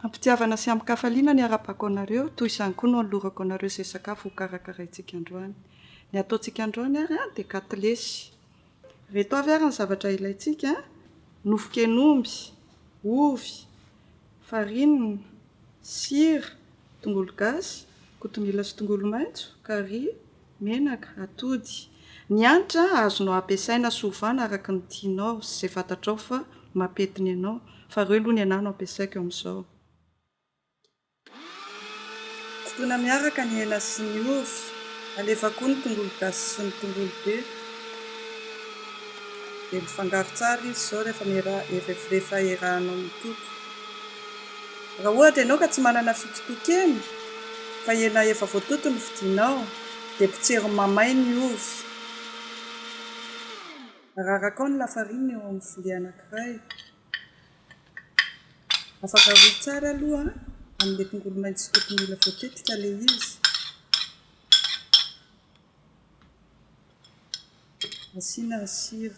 Am-pitiavana sy amin-kafaliana ny harabako anareo, toy izany koa no anolorako anareo izay sakafo hokarakaraintsika androany. Ny ataontsika androany ary dia katilesy. Ireto avy ary ny zavatra ilaintsika, nofon-ken'omby, ovy, farine, sira, tongolo gasy, kotomila sy tongolo maitso, carry, menaka, atody, ny hanitra azonao ampiasaina sy ovana araka ny tianao sy izay fantatrao fa mampety ny anao, fa ireo aloha ny anah no ampiasaiko amin'izao. Sotroina miaraka ny hena sy ny ovy, alefa koa ny tongolo gasy sy ny tongolo be, dia mifangaro tsara izy izao rehefa efa erahanao mitoto. Raha ohatra ianao ka tsy manana fitotokena fa hena efa voatoto no vidianao dia potsero mamay ny ovy. Ararakao ny lafarinina eo amin'ny vilia anankiray. Afaka aroy tsara aloha amin'ilay tongolo maintso sy kotomila voatetika ilay izy. Asiana sira.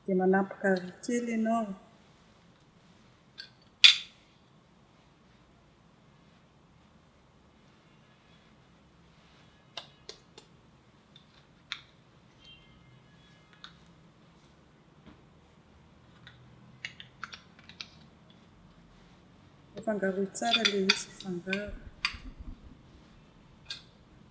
Dia manampy gary kely ianao. Afangaroy tsara ilay izy, afangaro.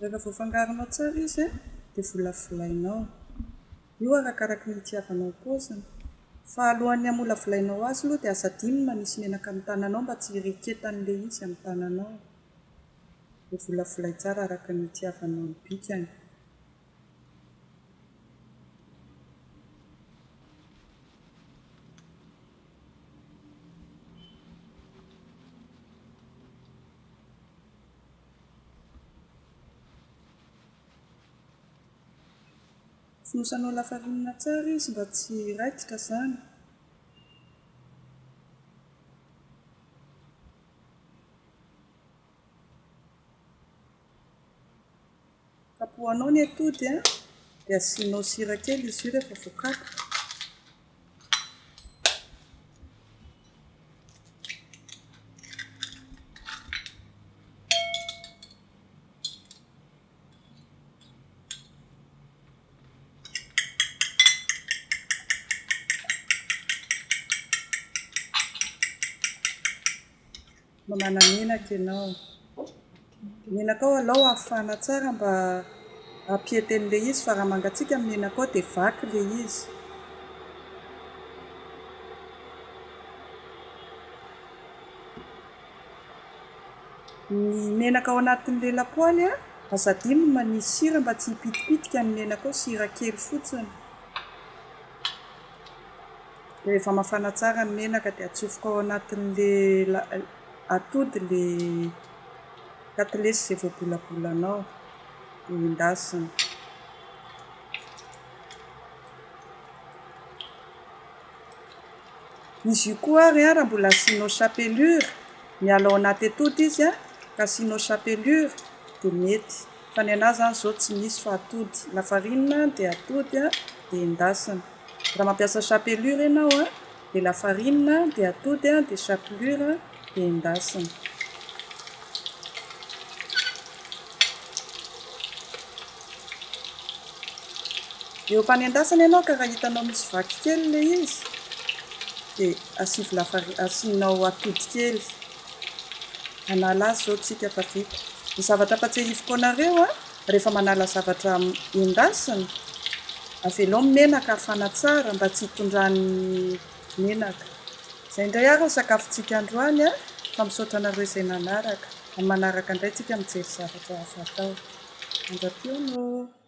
Rehefa voafangaronao tsara izy dia volavolainao. Io arakaraky ny itiavanao ny paoziny. Fa alohan'ny hamolavolainao azy aloha dia aza adino ny manisy menaka amin'ny tananao mba tsy hireketan'ilay izy amin'ny tananao. Dia volavolay tsara araka ny itiavanao ny bikany. Fonosanao lafarinina tsara izy mba tsy hiraikitra izany. Kapohanao ny atody a, dia asianao sira kely izy io rehefa voakapoka. no manamenaka ianao. Menakao alou hafana tsara mba hampiete an'ilay izy fa raha mangatsiaka ny menakao dia vaky ilay izy. Ny menaka ao anatin'ilay lapoaly a, aza adino ny manisy sira mba tsy hipitipitika ny menakao, sira kely fotsiny. Rehefa mafana tsara ny menaka dia atsofoka ao anatin'ilay atody ilay katilesy izay voabolabolanao dia endasina. Izy io koa ary raha mbola asianao chapelure, miala ao anaty atody izy an, ka asianao chapelure dia mety. Fa ny anà izany izao tsy misy fa atody, lafarinina dia atody dia endasina. Raha mampiasa chapelure ianao a, dia lafarinina dia atody a, dia chapelure dia endasina. Eo am-panendasana ianao ka raha hitanao misy vaky kely ilay izy, dia asivo lafari- asianao atody kely. Hanala azy izao isika fa vita. Ny zavatra ampatsahiviko anareo a, rehefa manala zavatra endasina, avelao ny menaka hafana tsara mba tsy hitondran'ny menaka. Izay indray ary ny sakafontsika androany an! Fa misaotra anareo izay nanaraka. Amin'ny manaraka indray tsika mijery zavatra hafa atao. Mandra-pihaona ô!